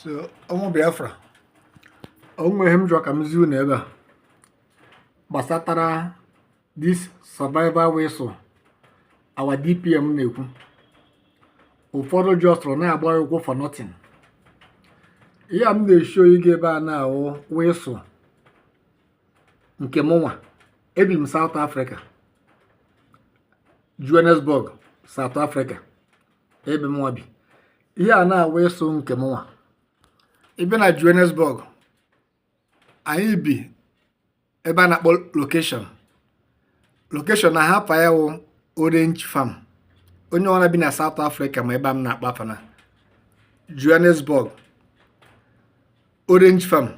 so ụmụ Biafra o nwere ihe m chọrọ ka m zi unu ebe a gbasatara this survival whistle our DPM na-ekwu ụfọdụ jọstrọ na-agba ụkwụ for nothing ihe a m na-eshow gị ebe a nwa wụ whistle nke mụnwa ebi m South Africa Johannesburg South Africa ebe mụnwa bi ihe a nwa wụ whistle nke mụnwa even na Johannesburg anyị bi ebe a na-akpọ location location nwa afa ya wụ orange farm onye ọwụna bi na South Africa ma ebe a m na-akpọ afa na Johannesburg Orange Farm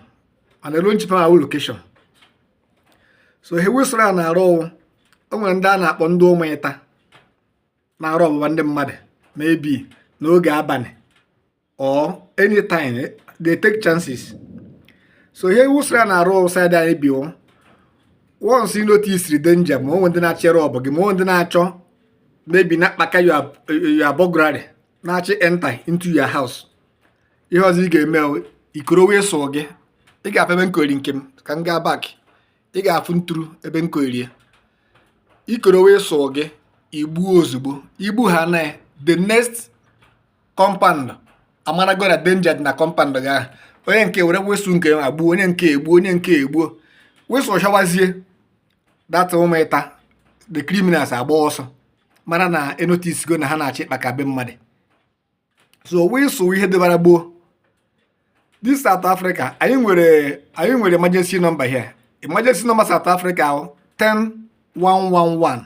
and Orange Farm a wụ location so ihe whistle a na-arụ wụ o nwere ndị a na-akpọ ndị ụmụ ịta na-arọbụgba ndị mmadụ maybe n'oge abalị or anytime eh, they take chances so ihe whistle a na-arụ side anyị bi once you notice the danger ma o nwee ndị na-achọ irob gị ma o nwee ndị na-achọ maybe na-akpaka your burglary na-achọ ịenter into your house ihe ọzọ ị ga-eme i koro whistle gị ị ga-afụ ebe m kowere nke m ka m gaa back ị ga-afụ nturu ebe m kowere ya i koro whistle gị i gbuo ozugbo i gbuo ha na the next compound amarago na danger dị na compound gị ahụ onye nke ewere whistle nke ya gbuo onye nke egbuo onye nke egbuo whistle chawazie that ụmụ ịta the criminals agba ọsọ mara na enoticego na ha na-achọ ịkpaka be mmadụ so whistle wụ ihe dịbara gboo this South Africa anyị nwere emergency number here emergency number South Africa 10111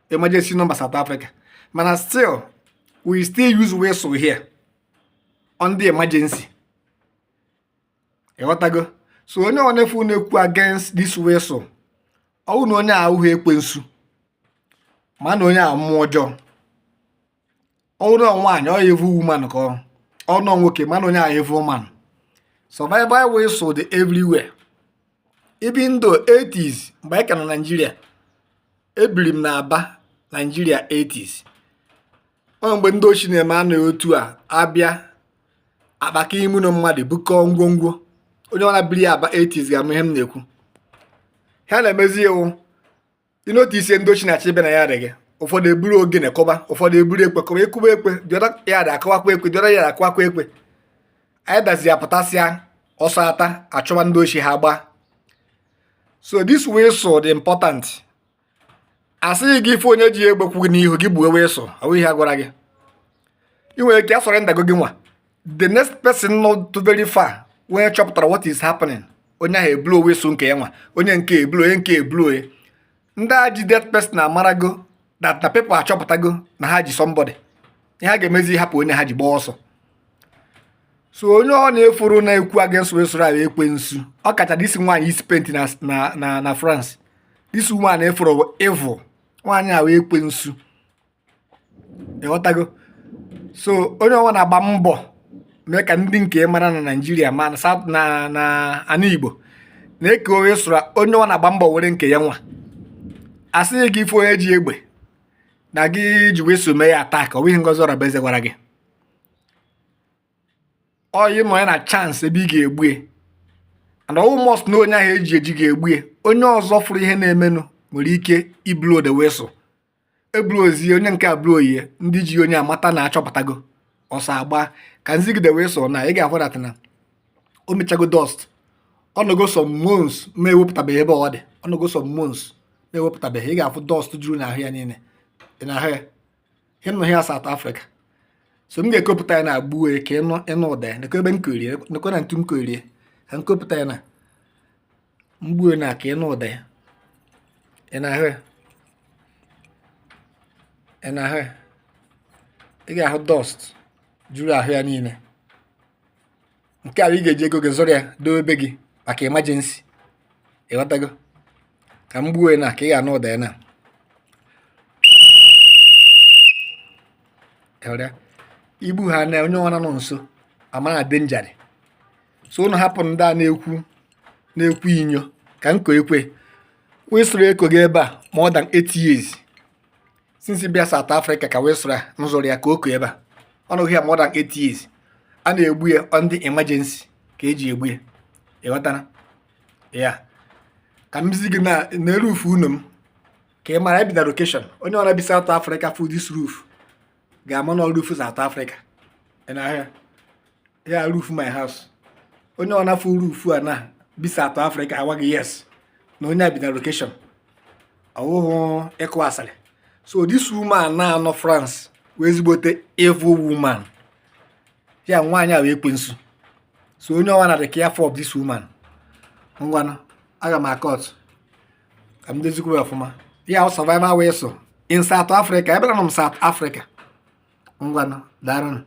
emergency number South Africa mana still we still use whistle here on the emergency ịghọtago so onye ọwụna ị fụ na-ekwu against this whistle ọ wụ na onye ahụ wụ ekwensu ma na onye a wụ mmụọ ọjọọ ọ wụrụ nwaanyị ọ wụ evil woman ka ọ wụrụ nwoke ma na onye ahụ wụ evil man survival whistle dị everywhere even in the 80s mgbe anyị ka nọ Nigeria ebiri m na Aba Nigeria 80s ọ mgbe ndị oshi na-emenụ otu a abịa akpaka ime ụnọ mmadụ bukọọ ngwongwo onye ọwụna biri Aba 80s ga-ama ihe m na-ekwu ihe a na-emezi wụ i notice ndị oshi na-achọ ịba na yard gị ụfọdụ eburu ogene kụba ụfọdụ eburu ekwe kụba akụba ekwe the other yard akụwakwa ekwe the other yard akụwakwa ekwe anyị dazi apụtasịa astart achụwa ndị oshi ha gbaa so this whistle dị important asịghị gị ị fụ onye ji egbe kwụ gị n'ihu gị gbuo whistle awụ ihe a gwara gị i nwere ike asurroundgo gịnwa the next person not too very far onye chọpụtara what is happening onye ahụ eblow whistle nke ya nwa onye nke eblow onye nke eblow onye ndị a ji that person amarago that na people achọpụtago na ha ji somebody ihe ha ga-emezi hapụ onye ha ji gbaa ọsọ so onye ọwụna ị fụrụ na-ekwu against whistle wụ ekwensu ọ kacha this nwaanyị isi paint na nọ na France this nwaanyị efuru evil nwaanyị a wụ ekwensu ịghọtago so onye ọwụna gbaa mbọ mee ka ndị nke mara na naijiria ma na south ma na ana igbo na-eke whistle onye ọwụna gbaa mbọ were nke ya nwa asịghị gị ị fụ onye ji egbe na gị ji whistle mee ya attack ọ bụghị ngozi ọrabueze gwara gị ọwụ ị nọ ya na chance ebe ị ga-egbu ya and ọwụ must na onye ahụ eji eji ga-egbu ya onye ọzọ fụrụ ihe na-emenụ nwere ike iblow the whistle eblowzie onye nke eblow ya ndị ji onye amata na achọpụtago ọsọ agba ka m zi gị the whistle na ị ga-ahụ that na o mechago dust ọ nọgo some months ma ewepụtabeghị ebe ọ dị ọ nọgo some months ma ewepụtabeghị ị ga-afụ dust juru n'ahụ ya niile ị na-ahụ ya ịnụ ya South Africa so m ga-ekopụta ya now gbuo ya ka ị nụ ụda ya nekwe ebe m korie nekwe na ntu m korie ka m kopụta ya now m gbuo now ka ị nụ ụda ya ị na-ahụ ya ị na-ahụ ya ị ga-ahụ dust juru ahụ ya niile nke a ị ga-eji ego gị zụrụ ya doo ebe gị maka emergency ịghọtago ka m gbuo now ka ị ga-anụ ụda ya now ị gbuo ya now onye ọwụna nọ nso amara danger dị so ụnụ hapụ ndị a na-ekwu na-ekwu inyo ka m koo ekwe whistle a ekogo ebe a more than 8 years since m bịa South Africa ka whistle m zụrụ ya ka o ko ebe a ọ nọgo ya more than 8 years a na-egbu ya under emergency ka eji egbu ya ịghọtara ya ka m zi gị na roof ụnọ m ka ị mara ebi na location onye ọwụna bi South Africa fụ this roof ga-ama na ọ roof South Africa ị na-ahụ ya roof my house onye ọwụna fụ roof a na bi South Africa agwa gị yes na onye a bi na location ọwụhụ ịkụ asịrị so this woman nọ na France wụ ezigbote evil woman ya nwaanyị a wụ ekwensu so onye ọwụna dị careful of this woman ngwanụ aga m acut ka m dezikwu ọfụma ya ọ survival whistle in South Africa ebe nọ m South Africa ngwanụ daarụnụ